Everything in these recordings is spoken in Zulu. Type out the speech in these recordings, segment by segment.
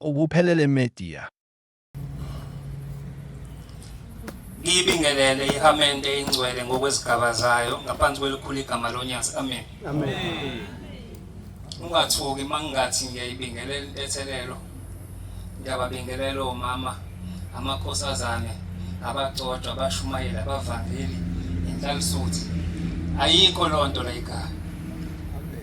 Ubuphelele Media. Ngiyibingelele ihamente ingcwele ngokwezigaba zayo ngaphansi kwelikhulu igama lonyasi. Amen. Amen. Ungathuki mangingathi ngiyayibingelela intethelelo. Ngiyababingelela omama, amakhosazane, abagcotshwa, abashumayeli, abavangeli, inhlalisuthi. Ayikho lonto la igama.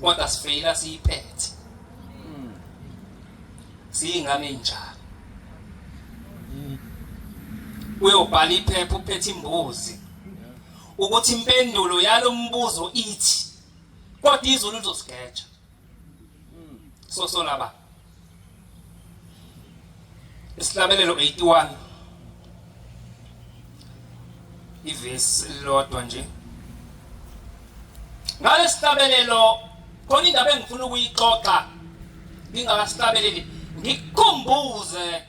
kodwa sifeyila siyiphethe siyingane enjalo uyobhala iphepha uphethe imbuzi ukuthi impendulo yalombuzo ithi kodwa izulu lizosigetsha sosola ba Isihlabelelo 81 ivesi lodwa nje ngalesihlabelelo khona indaba engifuna ukuyixoxa ngingakasihlabeleli ngikukhumbuze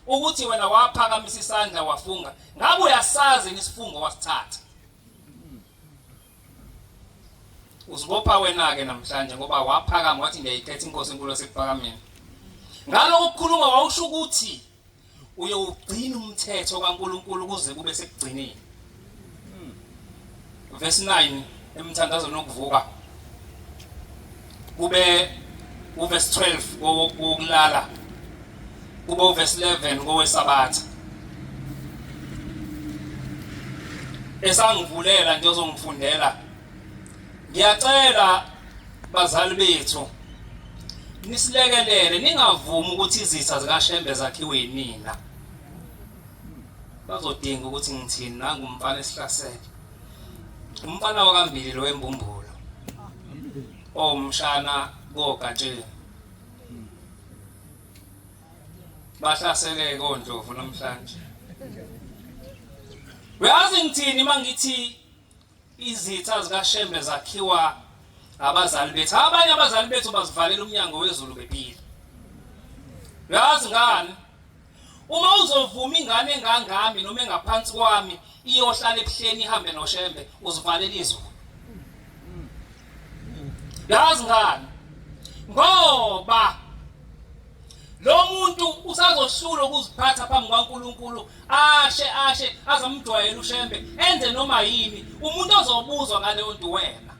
ukuthi wena waphakamisa isandla wafunga ngabe uyasazi isifungo wasithatha Uzibopha wena-ke namhlanje ngoba waphakama wathi ngiyayikhetha inkosi enkulu esekuphakameni. Ngaloko kukhuluma wawusho ukuthi uyowugcina umthetho kaNkulunkulu kuze kube sekugcineni. Verse 9 emthandazweni wokuvuka. kube uvesi 12 kokulala kube uvesi 11 kowesabatha esangivulela nje ozongifundela ngiyacela bazali bethu nisilekelele ningavumi ukuthi izitha zikashembe zakhiwe yinina bazodinga ukuthi ngithini nangumfana esihlasele umfana wakambili lo wembumbulo owumshana kogatsheni bahlasele kondlovu namhlanje uyazi ngithini uma ngithi izitha zikashembe zakhiwa abazali bethu abanye abazali bethu bazivalela umnyango wezulu bephila uyazi ngani Uma uzovuma ingane engangami noma engaphansi kwami iyohlala ebuhleni ihambe noshembe uzivalela izwe. Yazi ngani? Ngoba lo muntu usazohlula ukuziphatha phambi kwaNkuluNkulu ashe ashe azamjwayela ushembe enze noma yini umuntu ozobuzwa ngaleyo nto wena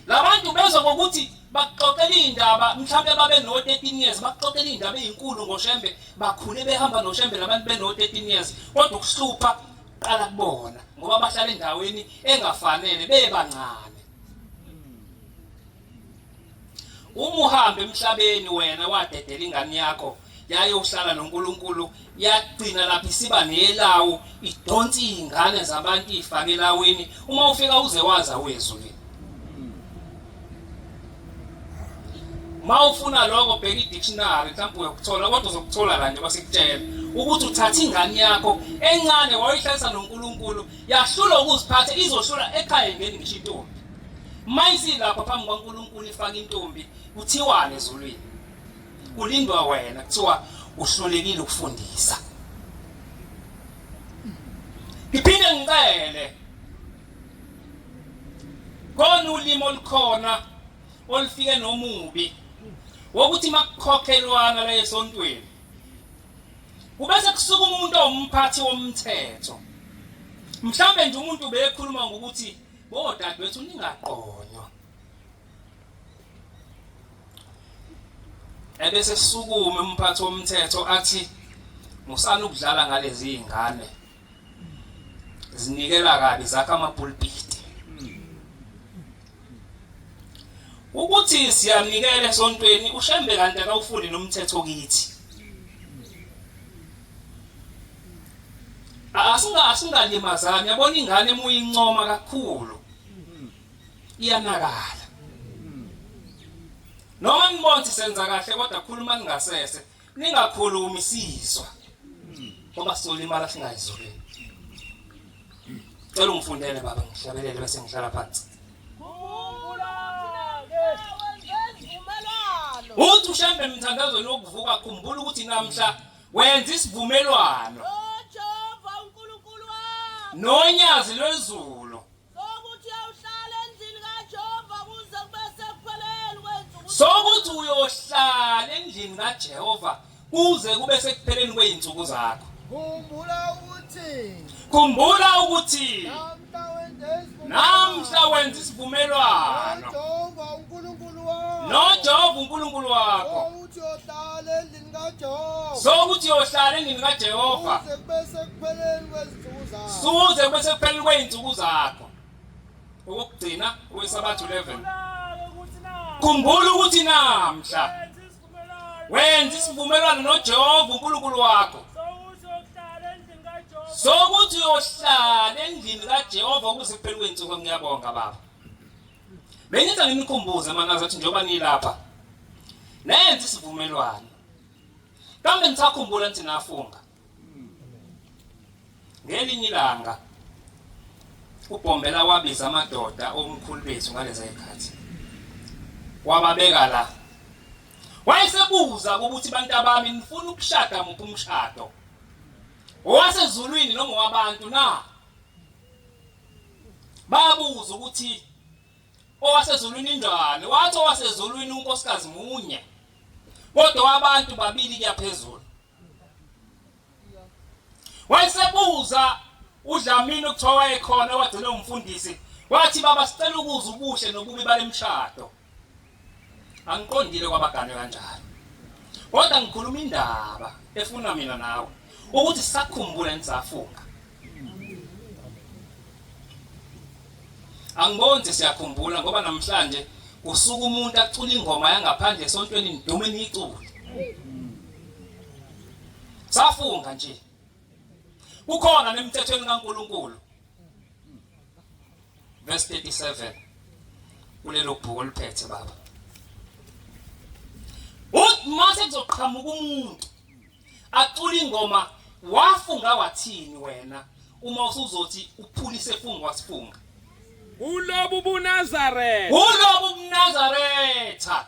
labantu bezwa ngokuthi bakuxoxela iy'ndaba mhlawumbe babe no-thirteen years bakuxoxela iy'ndaba ey'nkulu ngoshembe bakhule behamba noshembe labantu beno-thirteen years kodwa ukuhlupha qala kubona ngoba bahlala endaweni engafanele bebancane uma uhambe emhlabeni wena wadedela ingane yakho yayohlala noNkulunkulu yagcina lapha isiba nelawo idonsa iy'ngane zabantu iy'fake elaweni uma ufika uze waza wezulu ma ufuna lokho bheka i-dictionary mhlawumbe uyokuthola kodwa uzokuthola la nje basikutshela ukuthi uthatha ingane yakho encane wayihlalisa nonkulunkulu yahlula ukuziphatha izohlula ekhaya ngeni ngisho intombi ma isilapha phambi kwankulunkulu ifake intombi kuthiwane ezulwini kulindwa wena kuthiwa uhlulekile ukufundisa ngiphinde ngicele kona ulimi olukhona olufike nomubi wokuthi makukhokhelwana la esontweni kubese kusuka umuntu owumphathi womthetho mhlawumbe nje umuntu bekhuluma ngokuthi bodadewethu ningaqonywa ebese kusukume umphathi womthetho athi musana ukudlala ngalezi zingane zinikela kabi zakha amapulpiti ukuthi siyanikela esontweni ushembe kanti akawufuni nomthetho kithi asinga asingalimazani yabona ingane emuyincoma kakhulu iyanakala noma nibonze senza kahle kodwa khuluma ningasese ningakhulumi sizwa ngoba solimala singayizolweni cela ungifundele baba ngihlabelele bese ngihlala phansi uthi ushambe emthandazweni wokuvuka khumbula ukuthi namhla wenza isivumelwano nonyazi lwezulu Sokuthi uyohlala endlini kaJehova kuze kube sekupheleni kwey'nsuku. Sokuthi uyohlala endlini kaJehova kuze kube sekupheleni kwey'nsuku zakho. Khumbula ukuthi. Khumbula ukuthi. Namhla wenza isivumelwano. NoJehova uNkulunkulu wakho. so ukuthi yohlala endlini kajehova suze kube sekupheleni kwey'nsuku zakho okokugcina kwesabathu 11 khumbula ukuthi namhla wenza isivumelwano nojehova unkulunkulu wakho sokuthi uyohlala endlini kajehova ukuze kuphele kwey'nsuku ngiyabonga baba Bengithi anginikhumbuze manazi ukuthi njengoba nilapha nenze isivumelwano. Kambe nisakhumbula nithi nafunga. Ngelinye ilanga uBhombela wabiza amadoda omkhulu bethu ngaleza ikhathi. Wababeka la. Wayesebuza ukuthi bantu abami nifuna ukushada muphi umshado. Owasezulwini noma wabantu na? babuza ukuthi owasezulwini injani wathi owasezulwini unkosikazi munye kodwa wabantu babili kuyaphezulu wayesebuza udlamini okuthiwa wayekhona wagcina umfundisi wathi baba sicela ukuza ubuhle nobubi balemshado angiqondile kwabagane kanjalo kodwa ngikhuluma indaba efuna mina nawe ukuthi sakhumbule nisafunga angiboni siyakhumbula ngoba namhlanje usuku umuntu acula ingoma yangaphandle esontweni nidume niyicule safunga nje kukhona nemthethweni kaNkuluNkulu verse 37 kulelo bhuku oliphethe baba uthi mase kuzoqhamuka umuntu acula ingoma wafunga wathini wena uma usuzothi uphulise funga wasifunga ulobu bunazaretha ulobu bunazaretha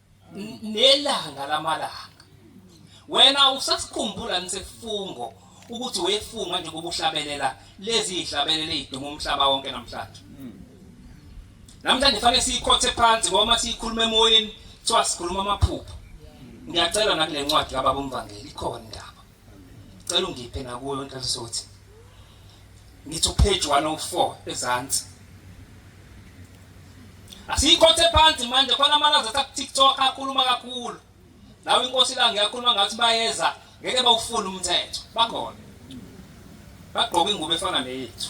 nelanga lamalanga wena usasikhumbula nisifungo ukuthi wefunga nje kubuhlabelela lezi ihlabelele iduma umhlaba wonke namhlanje namhlanje fane siyikhothe phansi ngoba siyikhuluma emoyeni kuthiwa sikhuluma amaphupho ngiyacela nakule ncwadi kababa umvangeli ikhona indaba Cela ungiphe nakuyo into esothi. Ngithi upage 104 ezansi. Asiyikhothe phansi manje khona amalazi athi TikTok akhuluma kakhulu. Nawe inkosi la ngiyakhuluma ngathi bayeza ngeke bawufuna umthetho. Bakhona. Bagqoka ingubo efana neyethu.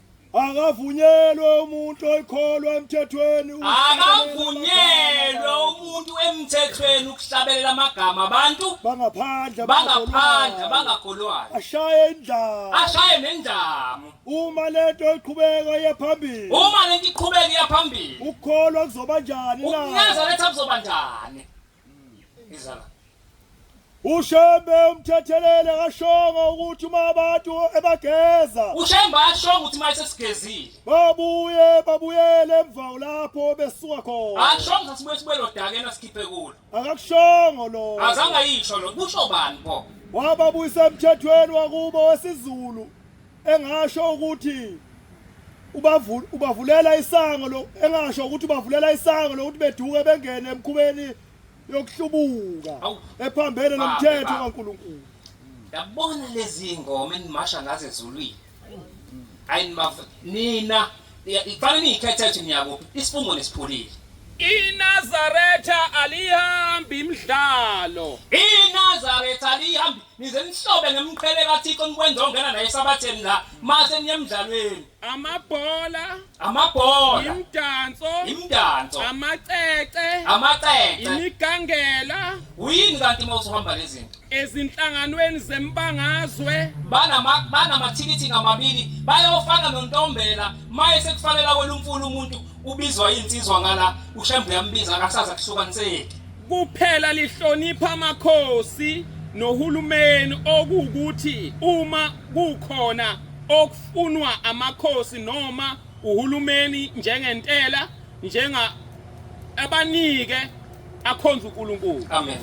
Akavunyelwe umuntu oyikholwa emthethweni Akavunyelwe umuntu emthethweni ukuhlabelela amagama abantu bangaphandle bangaphandle bangakholwayo ashaye indlala ashaye nendlamu uma lento iqhubeka iye phambili uma lento iqhubeka iya phambili ukukholwa kuzoba njani na ukuneza letha kuzoba njani izala ushembe umthethelele kashongo ukuthi uma abantu ebageza ushembe ashongo ukuthi uma esesigezile babuye babuyele emva lapho besuka khona ashongo sibuye sibuyele odakeni asikhiphe kulo akakushongo lo azange yisho lo kusho bani bo wababuyisa emthethweni wakubo wesizulu engasho ukuthi ubavulela isango lo engasho ukuthi ubavulela isango lokuthi beduke bengene emkhubeni yokuhlubuka ephambene nomthetho kaNkuluNkulu yabona lezi ngoma enimasha ngaze ezulwini ayi nina Ngifana niyikhetha ukuthi niyakuphi isifungo nesipholile. INazaretha alihambi imidlalo. INazaretha alihambi nize nihlobe ngemqhele kaThixo nikwenza ongena naye esabatheni la mase niye emdlalweni. Amabhola. Amabhola. Imdanso. Imdanso. Amacece. Amacece. Imigangela. Uyini kanti uma usuhamba lezinto? ezinhlanganweni zembangazwe banamathikithi ngamabili bayofana nontombela maye sekufanela wena umfuna umuntu ubizwa iy'nsizwa ngala ushembe uyambiza akasaza kuhlukaniseki kuphela lihlonipha amakhosi nohulumeni okuwukuthi uma kukhona okufunwa amakhosi noma uhulumeni njengentela njenga abanike akhonza uNkulunkulu amen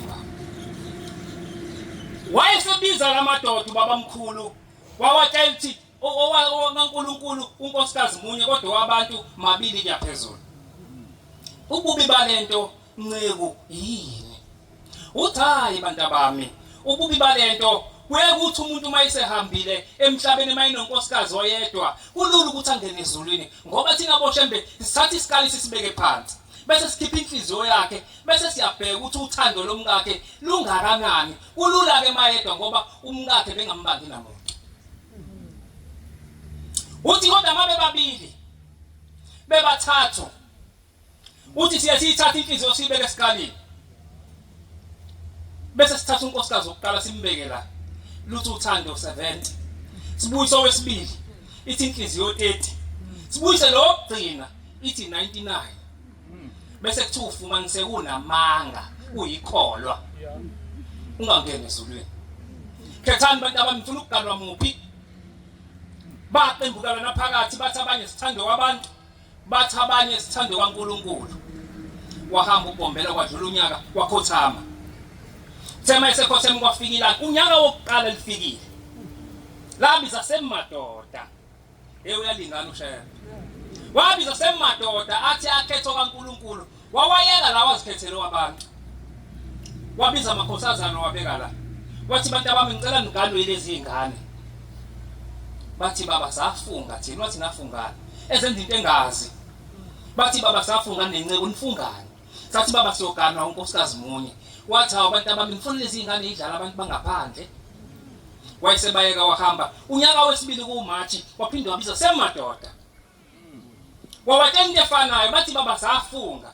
wayesebiza lamadoda ubaba mkhulu wawatshela ukuthi owaNkulunkulu unkosikazi munye kodwa wabantu mabili kuyaphezulu ububi balento Nceku, Yini? Uthi hayi bantabami, ububi balento kuyekuthi umuntu uma esehambile emhlabeni uma enonkosikazi oyedwa kulula ukuthi angene ezulwini ngoba thina boshembe sithatha isikali sisibeke phansi bese sikhipha inhliziyo yakhe bese siyabheka ukuthi uthando lomkakhe lungakanani kulula ke mayedwa ngoba umkakhe bengambangi namuntu uthi kodwa mabe babili bebathathu Uthi siye siyithathe inhliziyo siyibeke esikalini. Bese sithatha unkosikazi wokuqala simbeke la. Lutho uthando 70. Sibuyise owesibili ithi inhliziyo 30. Sibuyise lo gcina ithi 99. Bese kuthiwa ufumanise kunamanga uyikholwa. Ungangeni ezulwini. Khethani bantu abamfuna ukugalwa muphi? Baqembukalana phakathi bathi abanye sithande wabantu Bathi abanye sithande kwaNkulunkulu. Wahamba uBombela kwadlula unyaka wakhothama. Thema esekhotheme kwafika ilanga. Unyaka wokuqala lifikile. Labiza semadoda. Ewe uyalingana ushaya. Wabiza semadoda athi akhetho kaNkulunkulu Wawayeka la wazikhethela owabantu. Wabiza amakhosazana wabeka la. Wathi bantu abami ngicela niganwe yilezi zingane. Bathi baba safunga thina wathi nafungana. Ezenza into engazi. Bathi baba safunga nenceku nifungani. Sathi baba siyoganwa unkosikazi munye. Wathi hawu bantu abami ngifuna lezi zingane idlala abantu bangaphandle. Wayesebayeka wahamba. Unyaka wesibili kuMarch waphinde wabiza semadoda. wabatshela into efanayo bathi baba safunga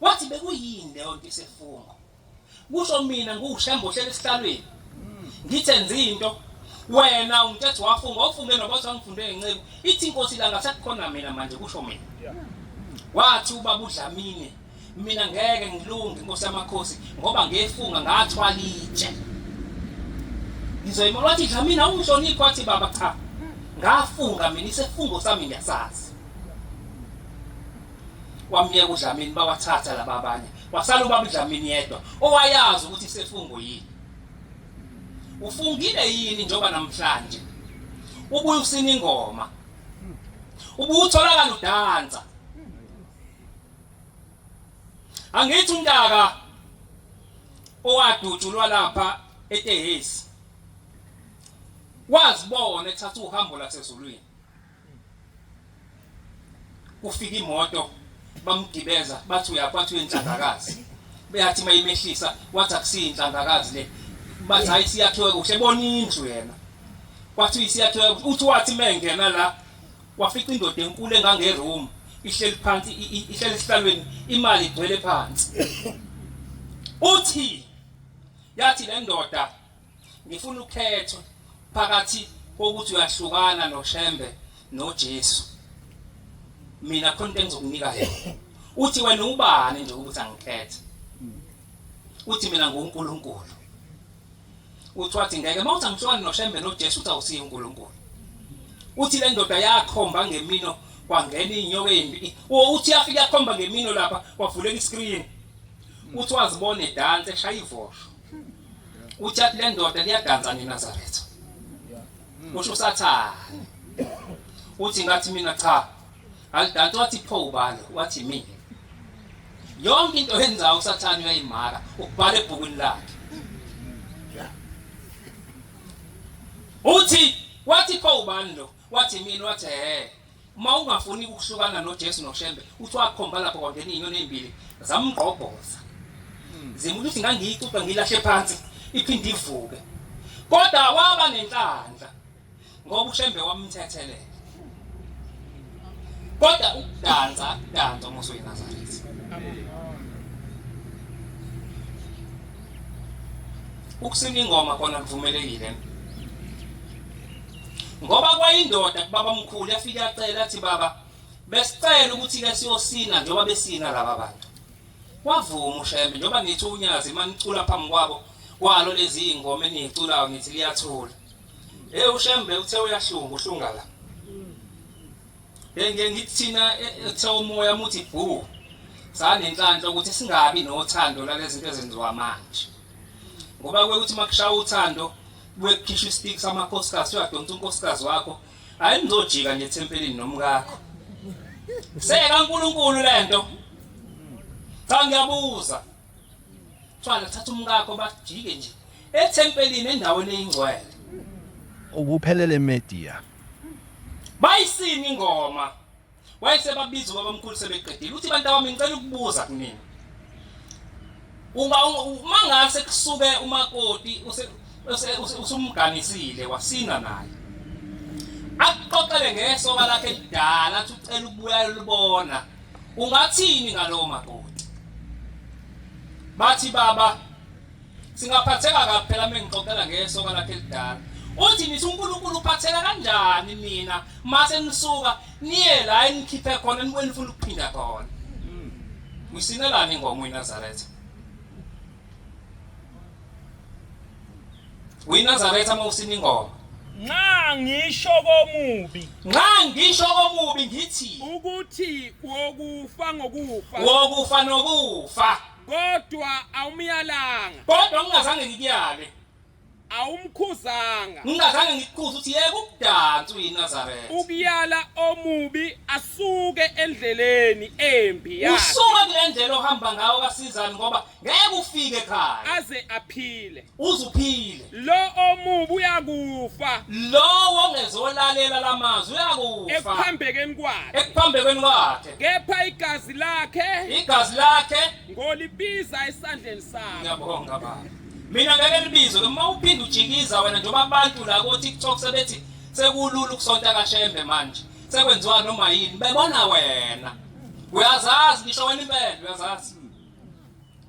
wathi bekuyini leyo nto isefungo kusho mina ngushembo hlele esihlalweni ngithe nzinto wena ungithethe wafunga ofunge nobathi wangifunde ngenceku ithi inkosi la ngasakhona mina manje kusho mina wathi ubaba udlamini mina ngeke ngilunge nkosi yamakhosi ngoba ngefunga ngathwala itshe ngizoyima wathi cha mina ungihloniphi wathi baba cha ngafunga mina isefungo sami ngiyasazi wamyeka udlamini bawathatha laba abanye wasala ubaba udlamini yedwa owayazi ukuthi isefungo yini ufungile yini njengoba namhlanje ubuye usina ingoma ubutholakala udansa angithi umntaka owadutshulwa lapha etehesi wazibona ethatha uhambo lasezulwini kufika imoto bamgibeza bathi uyaphatha uyenhlangakazi beyathi mayimehlisa wathi akusiyinhlangakazi le bathi hayi siyakhiwe kuhle bona indlu yena wathi siyakhiwe uthi wathi mengena la Wafica indoda enkulu engangeroom ihleli phansi ihleli esihlalweni imali igcwele phansi. Uthi yathi le ndoda ngifuna ukhetho phakathi kokuthi uyahlukana noShembe noJesu. Mina khona into engizokunika yona. Uthi wena ubani nje ukuthi angikhethe. Uthi mina nguNkulunkulu. Uthi wathi ngeke uma uthi angihlukani noShembe noJesu uthi awusiye uNkulunkulu. Uthi le ndoda yakhomba ngemino kwangena inyoka embi. Uthi yafika yakhomba ngemino lapha kwavuleka iscreen. Uthi wazibona edansa eshaya ivosho. Uthi athi le ndoda liyadansa neNazaretha. Usho usathane. Uthi ngathi mina cha Kanti wathi pho ubani? Wathi mina. Yonke into oyenzayo usathane uyayimaka, ukubhala ebhukwini lakhe. Uthi wathi pho ubani lo? Wathi mina wathi he. Uma ungafuni ukuhlukana noJesu noShembe, uthi wakhomba lapho kwangena inyoni ezimbili zamgqobhoza. Zimuntu uthi ngangiyixoxa ngilahle phansi iphinde ivuke. Kodwa waba nenhlanhla. ngoba ushembe wamthethelela kodwa ukudansa dansa uma usuyiNazaretha ukusina ingoma kona kuvumelekile ngoba kwayindoda kubaba mkhulu yafika yacela athi baba besicela ukuthi ke siyosina njengoba besina laba bantu wavuma ushembe njengoba nithi unyazi manicula phambi kwabo kwalo lezi ingoma eniyiculayo ngithi liyathula Hey uShembe uthe uyahlunga uhlunga la. Ngeke ngithina ethe e, umoya muthi bhu. Sanenhlanhla ukuthi singabi nothando lalezinto ezenziwa manje. Ngoba kwekuthi makushaya uthando kukhishwa istik samakhosikazi uyadonsa unkosikazi wakho hayi ngizojika nje ethempelini nomkakho. Seka uNkulunkulu lento. Cha ngiyabuza kuthiwa nakuthatha umkakho bajike nje ethempelini endaweni eyingcwele ukuphelele media bayisini ingoma wayesebabiza ubabamkhulu sebeqedile uthi bantu abami ngicela ukubuza kunina uba uma ngase kusuke umakoti usumganisile wasina naye akuxoxele ngesoka lakhe kudala athi ucela ukubuya lubona Ungathini ngalowo makoti? Bathi baba singaphatheka kabi phela mengixoxela ngesoka lakhe elidala. Uthi nithi uNkulunkulu uphatheka kanjani nina mase nisuka niye la enikhiphe khona nibuye nifuna ukuphinda khona. Usinelani ingoma uNazaretha? winazaretha uma usina ingoma nxa ngisho komubi nxa ngisho komubi ngithi ukuthi wokufa ngokufa wokufa nokufa kodwa awumyalanga kodwa ungazange ngikuyale awumkhuzanga ngingazange ngikukhuse ukuthi yeke ukudansa uyinazaretha ukuyala omubi asuke endleleni embi yakhe usuke kule ndlela ohamba ngawo kasizani ngoba ngeke ufike ekhaya aze aphile uzuphile lo omubi uyakufa lowo ongezolalela lamazwi uyakufa ekuphambekeni kwakhe ekuphambekeni kwakhe kepha igazi lakhe igazi lakhe ngolibiza esandleni sakhe ngiyabonga baba Mina ngeke libizo ke uma uphinde ujikiza wena njengoba abantu la ko TikTok sebethi sekulula ukusonta kaShembe manje. Sekwenziwa noma yini bebona wena. Uyazazi ngisho wena impela uyazazi.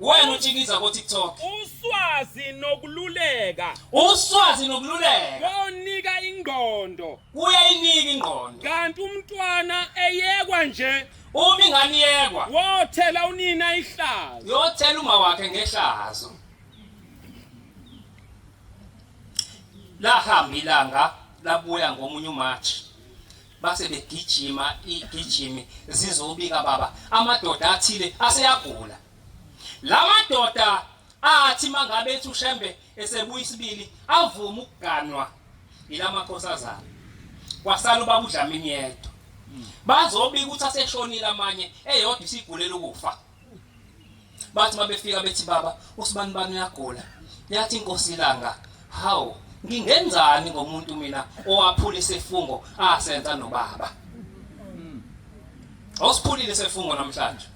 Wena ujikiza ko TikTok. Uswazi nokululeka. Uswazi nokululeka. Konika ingqondo. Kuyayinika ingqondo. Kanti umntwana eyekwa nje Uma ingane iyekwa, wothela unina ihlazo uyothela uma wakhe ngehlazo. Lahamba ilanga labuya ngomunye uMarch. Base begijima igijimi zizobika baba amadoda athile aseyagula. La madoda athi mangabe ethi uShembe esebuya isibili avuma ukuganwa ilamakhosazana kwasala ubaba uDlamini yedwa bazobika ukuthi aseshonile amanye eyodwa isigulela ukufa bathi mabefika bethi baba usibani bani uyagula yathi inkosi ilanga hawu ngingenzani ngomuntu mina owaphula isifungo asenza nobaba awusiphulile isifungo namhlanje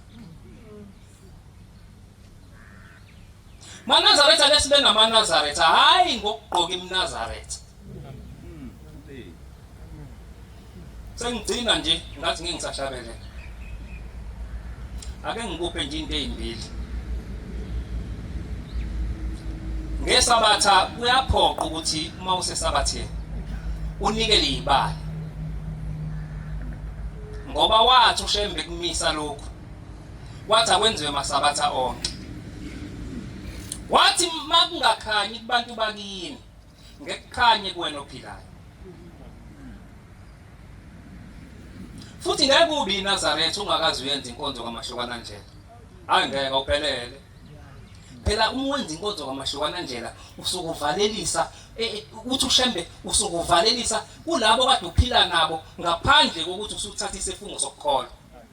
manazaretha ake sibe ngamanazaretha hhayi ngokugqoka imnazaretha sengigcina nje ngathi ngeke ngisahlabele ake ngikuphe nje into ezimbili ngesabatha kuyaphoqa ukuthi uma usesabatheni unikele izibali ngoba wathi ushembe kumisa lokhu wathi akwenziwe masabatha onke wathi makungakhanyi kubantu bakini ngekukhanye kuwena ophilayo futhi ngeke ubi iNazaretha ungakazi uyenza inkonzo kaMahlukana Ndlela hayi ngeke awuphelele phela uma wenza inkonzo kaMahlukana Ndlela usukuvalelisa e, e, uthi ushembe usukuvalelisa kulabo kade uphila nabo ngaphandle kokuthi usuthatha isifungo sokukholwa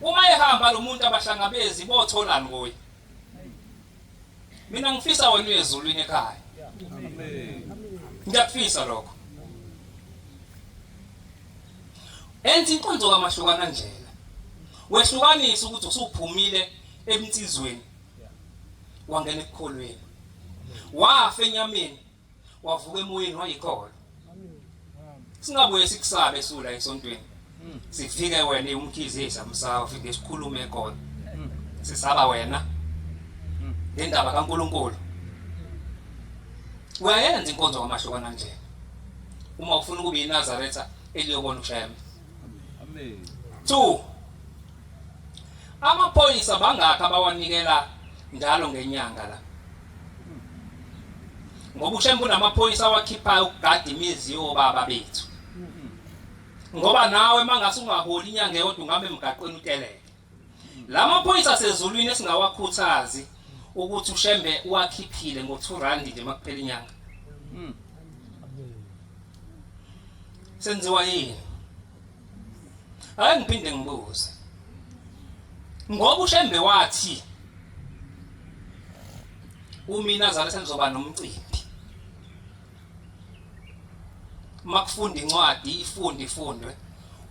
Uma ehamba lo muntu abahlangabezi botholani kuye? Mina ngifisa wena uye ezulwini ekhaya. Ngiyakufisa lokho. Enza inkonzo kaMahlukana njena. Wehlukanisa ukuthi usuphumile emtizweni wangena ekukholweni. Wafa enyameni wavuka emoyeni wayikholwa singabuye sikusabe sula esontweni hmm. sifike wena umkhizisa msawa ufike sikhulume khona hmm. sisaba wena hmm. ngendaba kaNkuluNkulu uyayenza inkonzo kwamahlukana nje uma ufuna ukuba iNazaretha eliyobona ushayela amen 2 amaphoyisa bangakha bawanikela njalo ngenyanga la ngoba ushembe unamaphoyisa awakhiphayo ukugada imizi yobaba bethu ngoba nawe mangase ungaholi inyanga eyodwa ungabe emgaqweni uteleke la maphoyisa asezulwini esingawakhuthazi ukuthi ushembe uwakhiphile ngo-2 rand nje makuphela inyanga senziwa yini Hayi ngiphinde ngibuze. Ngoba uShembe wathi umina zale sengizoba nomcimbi. Makufunda incwadi ifunde ifundwe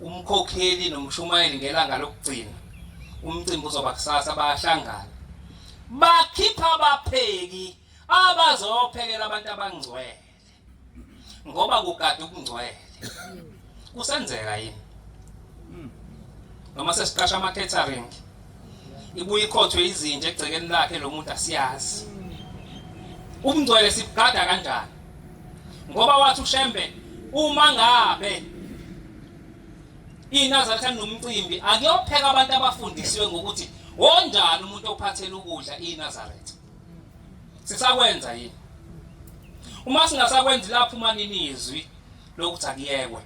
umkhokheli nomshumayeli ngelanga lokugcina umcimbi uzoba kusasa bayahlangana bakhipha abapheki abazophekela abantu abangcwele ngoba kugada ubungcwele kusenzeka yini noma sesiqasha ama-catering ibuye ikhothwe izinja egcekeni lakhe lo muntu asiyazi ubungcwele sibugada kanjani ngoba wathi ushembe uma ngabe inazatha nomcimbi akuyopheka abantu abafundisiwe ngokuthi wonjani umuntu ophathela ukudla inazaretha sisakwenza yini uma singasakwenzi lapho uma nini izwi lokuthi akuyekwe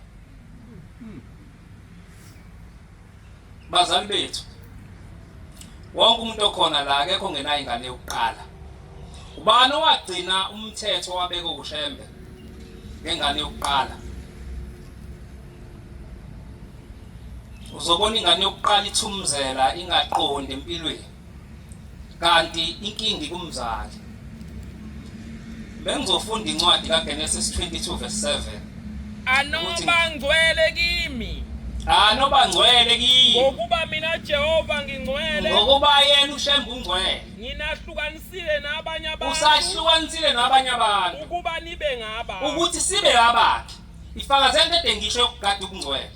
bazali bethu wonke umuntu okhona la akekho ngenayo ingane yokuqala ubani owagcina umthetho wabeka ushembe ngengane yokuqala uzobona ingane yokuqala ithumzela ingaqondi empilweni kanti inkingi kumzali bengizofunda incwadi kaGenesis 22 verse 7 anobangcwele kimi anobangcwele kimi ngokuba mina Jehova ngingcwele ngokuba yena ushemba ungcwele nginahlukanisile nabanye abantu usahlukanisile nabanye abantu ukuba nibe ngaba ukuthi sibe abakhe ifakazela into edengisho yokugada ukungcwele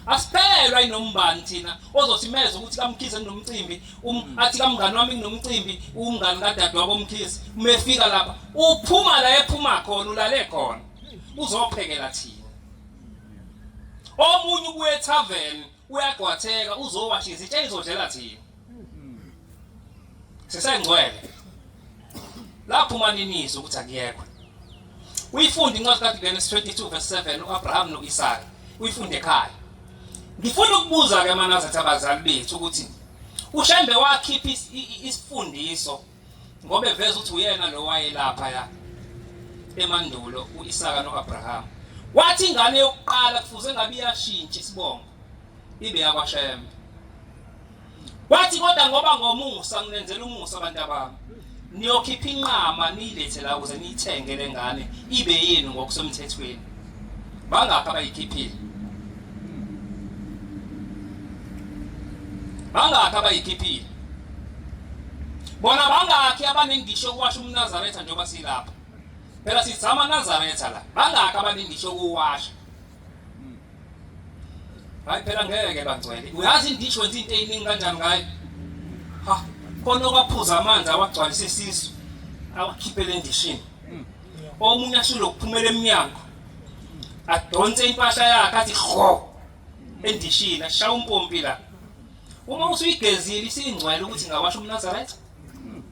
asiphelelwa inombani thina ozosimeza ukuthi kamkhize kunomcimbi um, mm. athi kamngani wami kunomcimbi umngani kadadewabo mkhize uma efika lapha uphuma la ephuma khona ulale khona uzophekela thina omunye ubuye ethaveni uyagwatheka uzowasha izitsha izodlela thina sisengcwele laphuma ninizo ukuthi akuyekwe uyifunde incwadi kaGenesis 22 verse 7 uAbraham noIsaka uyifunde ekhaya ngifuna ukubuza ke manazathi abazali bethu ukuthi ushembe wakhipha isifundiso ngoba eveza ukuthi uyena lo wayelapha ya emandulo uIsaka noAbraham wathi ingane yokuqala kufuze ngabe iyashintsha isibongo ibe yakwashembe Wathi kodwa ngoba ngomusa nginenzela umusa abantu abami. Niyokhipha inqama niyilethe la ukuze niyithenge lengane ibe yenu ngokusemthethweni. Bangakho abayikhiphile. Bangakho abayikhiphile. Bona bangakhi abanengisho ukwasha umNazaretha njengoba silapha. Phela sizama Nazaretha la. Bangakho abanengisho ukuwasha. hayi phela ngeke bangcwele uyazi indisho wenza into eyiningi kanjani ngayo ha khona okwaphuza amanzi awagcwalisa isisu awakhiphele endishini hmm. omunye ashilo kuphumela emnyango adonse impahla yakhe athi ho endishini ashaya umpompi la uma usuyigezile isingcwele ukuthi ngawasho umnazarayitha hmm.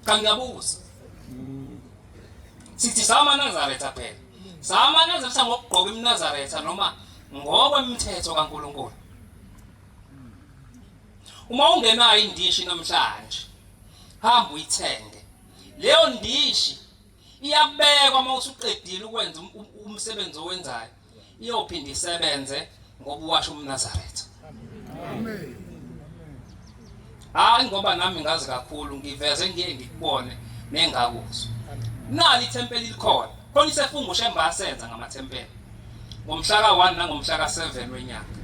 kangiyabuza sithi samanazaretha phela samanazaretha ngokugqoka imnazaretha noma ngokwemithetho kaNkuluNkulu uma ungenayo indishi namhlanje hamba uyithenge leyo ndishi iyabekwa uma usuqedile ukwenza um-, um-, umsebenzi owenzayo iyophinde isebenze ngoba uwasho umNazaretha amen hayi ngoba nami ngazi kakhulu ngiveze ngiye ngikubone nengakuzwa nali ithempeli likhona khona isefungo shemba asenza ngamathempeli ngomhla ka-1 nangomhla ka-7 wenyanga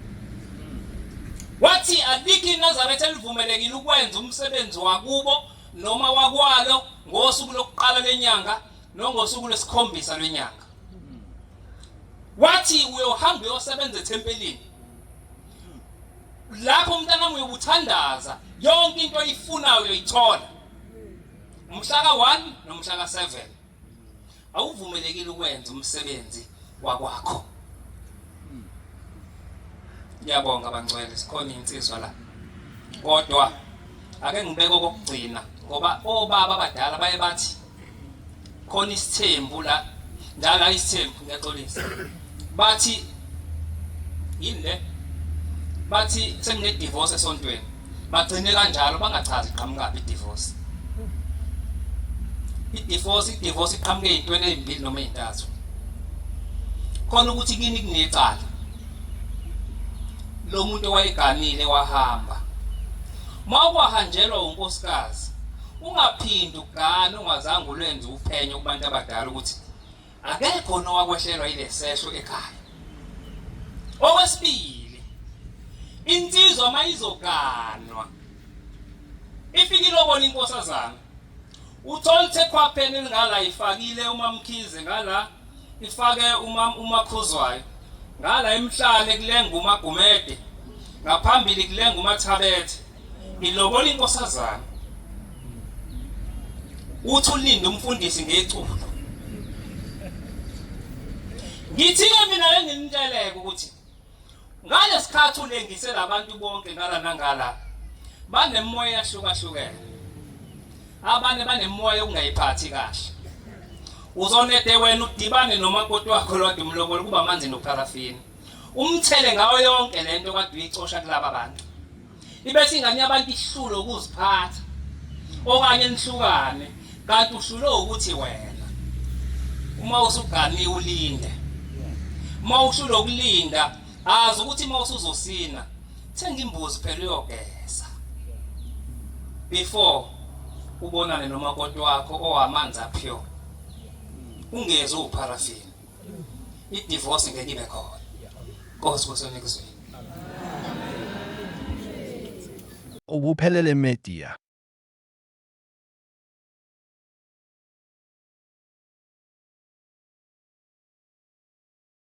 wathi alikho inazaretha elivumelekile ukwenza umsebenzi wakubo noma wakwalo ngosuku lokuqala lenyanga nongosuku lwesikhombisa lwenyanga wathi uyohamba uyosebenza ethempelini lapho umntanami uyobuthandaza yonke into oyifunayo uyoyithola umhlaka 1 nomhlaka 7 awuvumelekile ukwenza umsebenzi wakwakho ngiyabonga bangcwele sikhona insizwa la kodwa ake ngibeke okokugcina ngoba obaba abadala baye bathi khona isithembu la ndala isithembu ngiyaxolisa bathi yini le bathi sengine divorce esontweni bagcine kanjalo bangachazi qhamukaphi divorce idivorce idivorce iqhamuke ezintweni ezimbili noma ezintathu khona ukuthi kini kunecala lo muntu owayeganile wahamba uma kwahanjelwa unkosikazi Ungaphindi ugane ungazange ulwenze uphenyo kubantu abadala ukuthi akekho nowakwehlelwa ilesehlo ekhaya. Okwesibili, insizwa mayizoganwa ifike ilobona inkosazana uthola ukuthi ekhwapheni elingala ifakile umamkhize ngala ifake umakhuzwayo ngala emhlane kulenga umagumede ngaphambili kulenga umathabethe Ngilobola inkosazana. Uthi ulinde umfundisi ngeculo. Ngithi ke mina lenginiteleke ukuthi ngalesikhathi ulengise labantu bonke ngala nangala banemoya yahlukahlukene. Abanye banemoya okungayiphathi kahle. Uzonede wena udibane nomakoti wakho lodwa umlobola kuba manzi nopharafini. umthele ngawo yonke le nto kade uyicosha kulaba bantu ibese ingane yabantu ihlule ukuziphatha okanye nihlukane kanti uhlule ukuthi wena uma usuganiwe ulinde uma uhlule ukulinda azi ukuthi uma usuzosina thenga imbuzi phela uyogeza before ubonane nomakoti wakho owamanzi aphyo ungezi upharafini idivorce ngeke ibe khona nkosi kusemikuzweni ukuphelele media